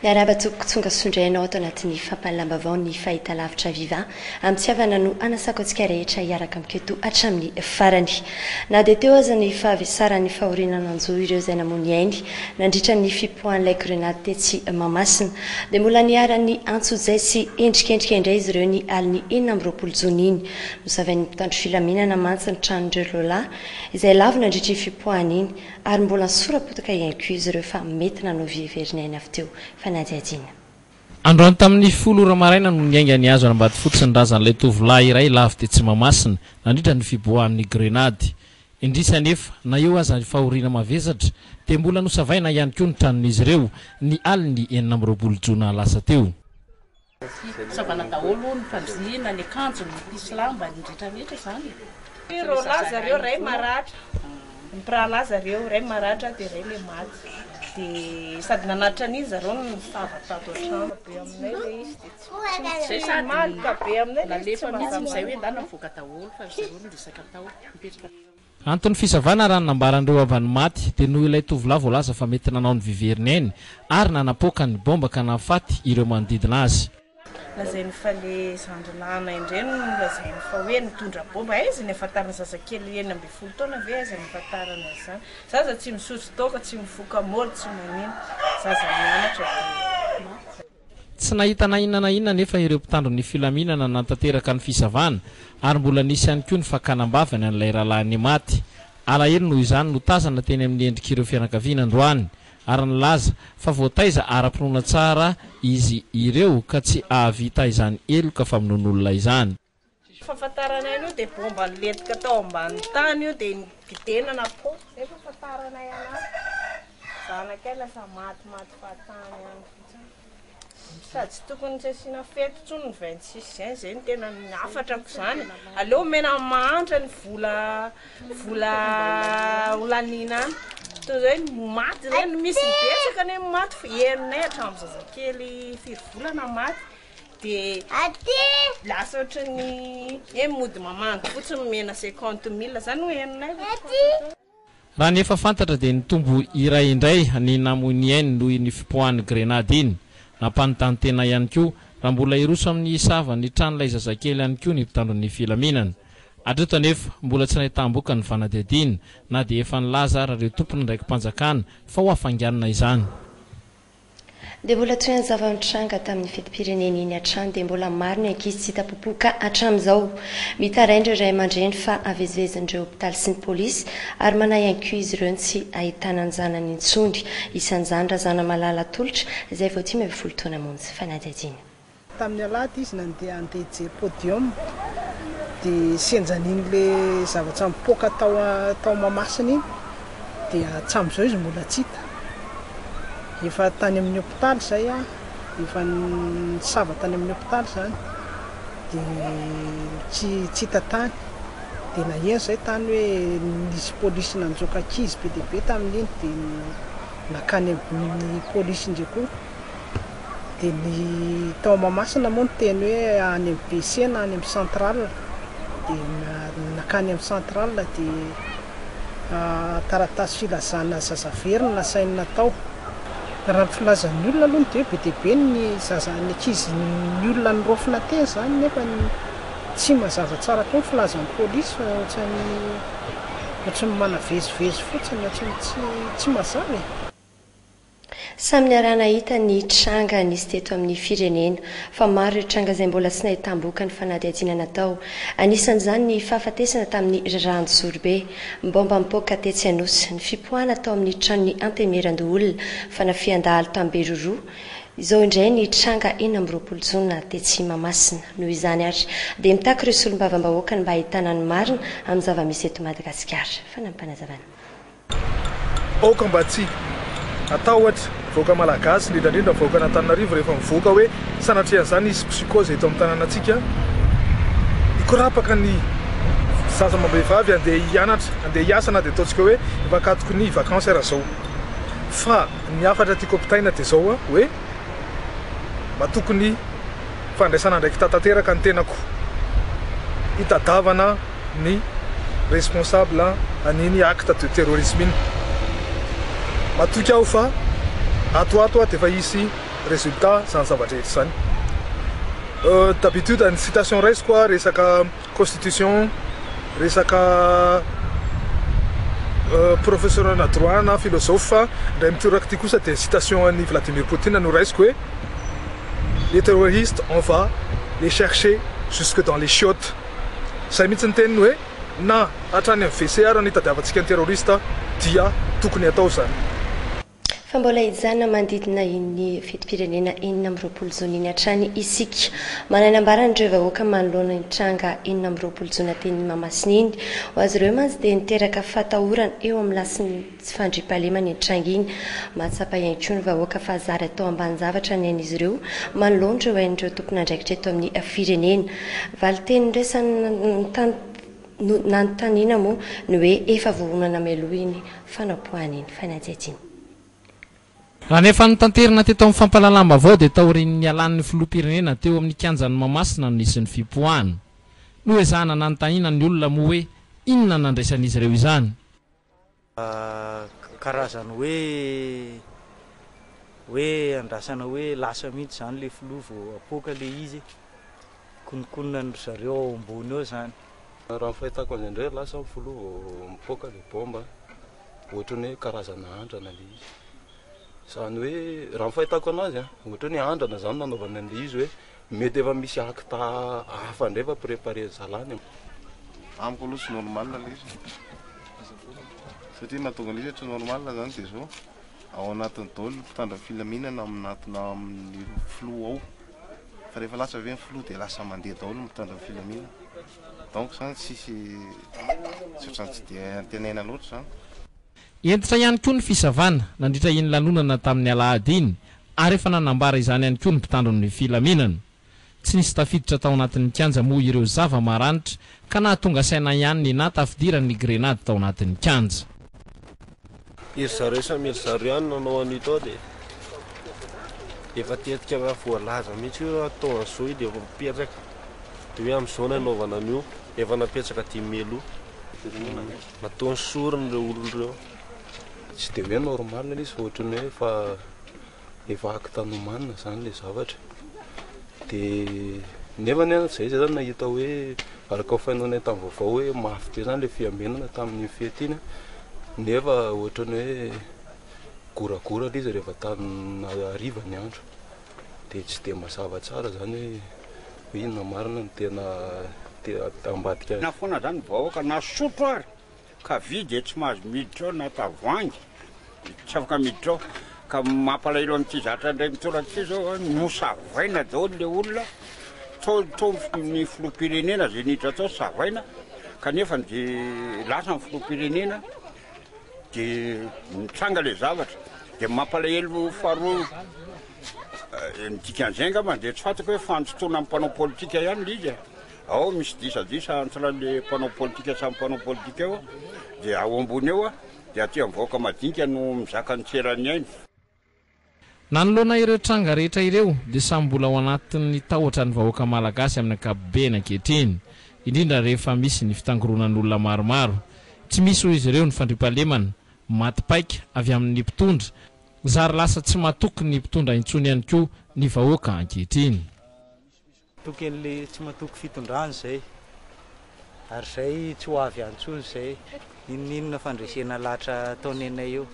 Miarahaba tompoko tsonga sondray anao ato anatin'ny fampahalalam-bavao ny fahitalavitra viva amitiavana no anasako antsika rehetra hiaraka amiko eto hatramin'ny farany na dia teo aza ny fahavesaran'ny fahoriana nanjo ireo izay namoa ny ainy nandritra ny fipoahan'ilay grenady tetsy Mahamasina dia mbola niharan'ny antsojay sy endrikendrika indray izy ireo ny alin'ny enina amby roapolo jona iny nosavain'ny mpitandro filaminana mantsy ny tranon'ireo lehilahy izay lavo nandritra iny fipoahana iny Ary mbola nisora-potoka i Incuse ireo fa mety nanao vie very ny ainy avy teo, fa nihadihadiana. Androany tamin'ny folo ora maraina no niainga ny hazo any Ambatofotsy ny razan'ilay tovolahy iray lavo tetsy Mahamasina, nandritra ny fiboahan'ny grenady. Indrisy anefa, na eo aza ny fahoriana mavesatra, dia mbola nosavaina ihany koa ny tranon'izy ireo, ny alin'ny enina amby roapolo jona lasa teo. Fisavana daholo ny fandriana, ny akanjo, ny pisy lamba, ny rehetra rehetra izany e! Ny roalahy zareo iray maratra, mpirahalahy zareo iray maratra dia iray ilay maty, dia sady nanatitra an'iny zareo no nisava tato an-trano, be aminay ilay izy dia tsy Izay sady nalefa mihitsy izay hoe andeha navoaka daholo fa ry zareo no resaka tao, nipetraka tao. Anton'ny fisavana raha ny nambaran'ireo havan'ny maty dia noho ilay tovolahy voalaza fa mety nanao ny viveriny ainy ary nanapoaka ny bomba ka nahafaty ireo manodidina azy. Lazainy fa le zandry nahanay indray no nolazainy fa hoe nitondra bomba, aiza ny ahafantarany zazakely enina ambin'ny folo taona ve aiza ny ahafantarany an'izany, zaza tsy misotro toaka, tsy mifoka môly, tsy manino, zaza mianatra dia maty. Tsy nahita na inona na inona anefa ireo mpitandro ny filaminana nanatanteraka ny fisavana ary mbola nisy ihany koa ny fakana am-bavany an'ilay rahalahiny maty. Alahelo noho izany no tazana teny amin'ny endrik'ireo fianakaviana androany ary nilaza fa voataiza ara-pinoana tsara izy ireo ka tsy hahavita izany heloka famonoan'olona izany. Fahafantaranay an'io dia bomba nilentika tao ambanin'ny tany io dia nogidenana fô zay fahafantaranay anazy. Zanakay lasa maty maty fahatany any fotsiny. Sady tsy tokony tsy asiana fety intsony ny 26 juin izay no tena ny hafatrako izany. Aleo omena amin'ny mahantra ny vola vola holaniana any. Toy izay ny maty ireny misy betsaka anie ny maty fa henonay hatramin'ny zazakely firy volana maty. Raha ny efa fantatra dia nitombo iray indray ny namoin'i Aine noho iny fipoahan'ny grenady iny. Nampanontany tena ihany koa raha mbola hiroso amin'ny hisava ny tran'ilay zazakely ihany koa ny mpitandro ny filaminana. Hatreto anefa, mbola tsy nahitam-boka ny fanadihadiana na dia efa nilaza ary ireo tompon'andraiki-panjakana fa ho hafainganina izany. Dia mbola toy ny zava-nitranga tamin'ny fetim-pirenena iny hatrany dia mbola maro ny ankizy tsy hita popoka hatramin'izao. Mitaraina ireo ray aman-dreny fa havezivezin'ireo hopitaly sy ny polisy ary manahy ihany koa izy ireo ny tsy hahitana ny zanany intsony. Isan'izany Razanamalala Tolotra izay vao dimy ambin'ny folo taona monja fanadihadiana. Tamin'ny alahady izy nandeha handehije podium dia senjan'in'ilay zavatra mipoaka tao tao Mahamasina iny dia hatramin'izao izy mbola tsy hita. Efa tany amin'ny hopitaly izay aho, efa nisava tany amin'ny hopitaly izany dia tsy tsy hita tany. Dia naheno izay tany hoe nisy polisy nanjoaka ankizy be dia be tamin'iny dia nankany amin'ny polisy indray koa. Dia ny tao Mahamasina moa ny teny hoe any amin'ny BC na any amin'ny central. Dia nankany amin'ny central dia taratasy filazana zaza very no nasainy natao. Raha ny filazan'ny olona aloha dia be dia be ny zaza ny ankizy ny olona noraofina teny izany nefa tsy mazava tsara koa ny filazan'ny polisy fa ohatran'ny ohatran'ny manavezivezy fotsiny ohatran'ny tsy mazava e. Samy niaraha-nahita ny tranga nisy teto amin'ny firenena, fa maro ireo tranga izay mbola tsy nahitam-boka ny fanadihadiana natao. Anisan'izany ny fahafatesana tamin'ny rirahan-jorobe, ny baomba nipoaka tetsy Anosy, ny fipoahana tao amin'ny tranon'ny Antenimierandoholona, fanafihan-dahalo tany Beroroha, izao indray ny tranga enina amby roapolo jona tetsy Mahamasina. Noho izany ary dia mitaky ireo solombavambahoaka ny mba hahitana ny marina amin'ny zava-misy eto Madagasikara. Fanampiny Fanazavana. Aoka mba tsy hatahotra vahoaka malagasy indrindra indrindra vahoakan'Antananarivo rehefa mivoaka hoe sanatria an'izany hisy psychose eto amin'ny tanànantsika hikorapaka ny zaza amam-behivavy andeha hianatra andeha hiasa na dia ataontsika hoe mpakatoky ny vacances ara zao fa ny hafatra tiako ampitaina dia zao hoe mba tokony fandraisana andraikita tanteraka ny tenako hitadavana ny responsable an'iny acte de terrorisme iny. Matoky aho fa ato ato aho dia efa hisy résultat izany zava-drehetra izany. D'habitude ny citation raisiko aho resaka constitution, resaka professeur ana droit na philosophe fa indray mitoraka ity kosa dia citation an'i Vladimir Poutine no raisiko hoe les terroristes on va les chercher jusque dans les chiottes. Izay mihitsy ny teniny hoe na hatrany amin'ny WC ary no itadiavantsika ny terroriste dia tokony hatao izany. Fa mbola hijanona manodidina iny fetim-pirenena enina amby roapolo jona iny hatrany isika. Manana ambaran'ireo vahoaka manoloana iny tranga enina amby roapolo jona teny Mahamasina iny. Ho azy ireo mantsy dia niteraka fahatahorana eo amin'ny lasin'ny. Tsy fandriampahalemana iny tranga iny. Mahatsapa ihany koa ny vahoaka fa zary atao ambanin-javatra ny ain'izy ireo manoloana ireo ain'ireo tompon'andraikitra eto amin'ny firenena. Valin-teny niraisan'ny nanontaniana moa ny hoe efa voahonana mialoha iny fanapoahana iny fanadihadiana iny. Raha ny efa notanterina teto amin'ny fampahalalam-baovao dia taorian'ny nialan'ny filoham-pirenena teo amin'ny kianjan'i Mahamasina no nisy ny fipoahana. Noezahana nanontaniana ny olona moa hoe inona no nandraisan'izy ireo izany. Karazany hoe hoe andrasana hoe lasa mihitsy zany le filoha vao apoaka le izy e. Kononkonona an-dry zareo ao ambony ao zany. Raha ny fahitako azy indray lasa ny filoha vao mipoaka le bomba an. Ohatran'ny hoe karazana andrana le izy. Izany hoe raha ny fahitako anazy an, ohatran'ny hoe andrana zany nanaovany an'le izy hoe. Mety efa misy acte hafa indray efa preparer zalany an. Amiko aloha tsy normal ilay izy satria nahatonga an'io tsy normal izany dia izao ao anatiny daholo ny mpitandro filaminana amin'natona amin'ny filoha ao fa rehefa lasa ve ny filoha dia lasa mandeha daholo ny mpitandro ny filaminana donc izany tsisy tsy ohatran'ny tsy dia antenaina loatra izany. Hentitra ihany koa ny fisavana nandritra iny lanonana tamin'ny alahady iny ary efa nanambara izany ihany koa ny mpitandro ny filaminana. Tsy nisy tafiditra tao anatin'ny kianja moa ireo zava-maranitra ka nahatonga saina ihany ny nahatafidiran'ny grenady tao anatin'ny kianja. Iry zareo samy iry zareo ihany nanao an'io tao dia efa tetika raha voalaza mihitsy hoe atao an'izao io dia efa mipetraka dia hoe amin'izao no hanaovana an'io, efa napetraka dimy mai aloha. Nataony sorona ireo olona ireo. Tsy dia hoe normal ilay izy fa ohatran'ny hoe efa efa acte nomanina izany ilay zavatra. Dia nefa anie izay izay izany nahita hoe araka ny faheno anay tamin'ny vaovao hoe mafy be izany ilay fiambenana tamin'iny fety iny nefa ohatran'ny hoe goragora ilay izy rehefa tany hariva ny andro. Dia tsy dia mazava tsara izany hoe inona marina no tena te ambadika azy. Na foana izany ny vahoaka na sotro ary ka vy dia tsy mahazo miditra ao na tavoahangy tsy afaka miditra ao. Ka ny mampalahelo amin'ity zatra indray mitolaka ity izao an, nosavaina daholo ilay olona, tao tao ny filoham-pirenena izay niditra tao savaina kanefa dia lasa ny filoham-pirenena. dia nitranga ilay zavatra dia mampalahelo faharoa eh, ny dikan'izay angamba dia tsy fantako hoe fandotoana amin'ny mpanao politika ihany ilay izy ao misy disadisa entre le mpanao politika samy mpanao politika eo dia ao ambony eo dia aty amin'ny vahoaka madinika no mizaka ny tseran'ny ainy Nanoloana ireo tranga rehetra ireo dia samy mbola ao anatin'ny tahotra ny vahoaka malagasy amin'ny ankapobeny ankehitriny, indrindra rehefa misy ny fitangoronan'olona maromaro. Tsy misy hoy izy ireo ny fandriampahalemana, maty paika avy amin'ny mpitondra, zary lasa tsy matoky ny mpitondra intsony ihany koa ny vahoaka ankehitriny. Tokin'le tsy matoky fitondrana izay ary izay tsy ho avy antsony izay inoninona fandresena latra ataony anay eo.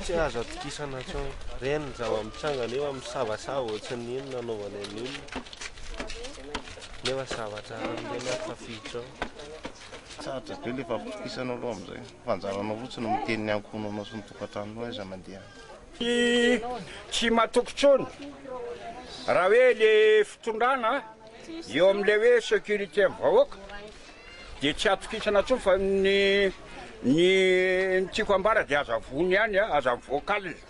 Tsy azo atokisana intsony reny ny zava-mitsangana eo amin'ny savasava ohatsin'ny iny nanaovany an'ny olona nefa zava-tsara amin'ireny ato tafiditra ao. Sarotra be ilay fampitokisana aloha amin'izay fa anjaranao fotsiny miteny ny ankohonanao sy ny tokantranonao aiza mandeha. Tsy tsy matoky tsony raha hoe le fitondrana eo amle hoe securite ny vahoaka de tsy atokisana tsony fa ny ny tiako ambara de aza vono ihany aza mivoaka alina.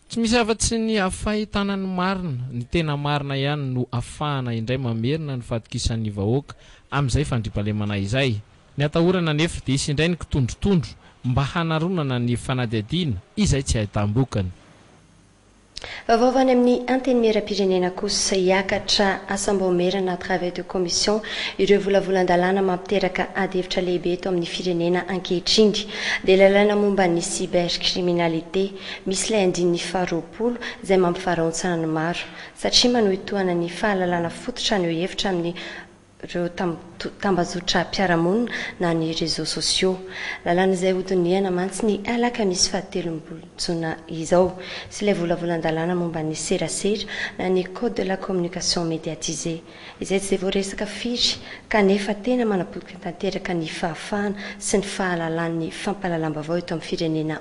Tsy misy afa tsy ny hafahitana ny marina, ny tena marina ihany no afahana indray mamerina ny fatokisan'ny vahoaka amin'izay fandriampahalemana izay. Ny atahorana anefa dia hisy indray ny kitondrotondro mba hanaronana ny fanadihadiana izay tsy ahitam-bokany. Vaovao avy any amin'ny Antenimierampirenena kosa, hiakatra asam-baomerana, travail de commission, ireo volavolan-dalàna mampiteraka adihevitra lehibe eto amin'ny firenena ankehitriny. Dia ilay lalàna momba ny cybercriminalité, misy ilay andininy faharoapolo izay mampivaraontsana ny maro, satria manohitohana ny fahalalana fototra haneho hevitra amin'ny. ireo tambazotram-piarahamonina na ny réseaux sociaux. Lalàna izay hodinihana mantsy ny alakamisy fahatelo ambin'ny folo jona izao sy ilay volavolan-dalàna momba ny serasera na ny code de la communication médiatisée izay tsy dia voaresaka firy kanefa tena manapotika tanteraka ny fahafahana sy ny fahalalan'ny fampahalalam-baovao eto amin'ny firenena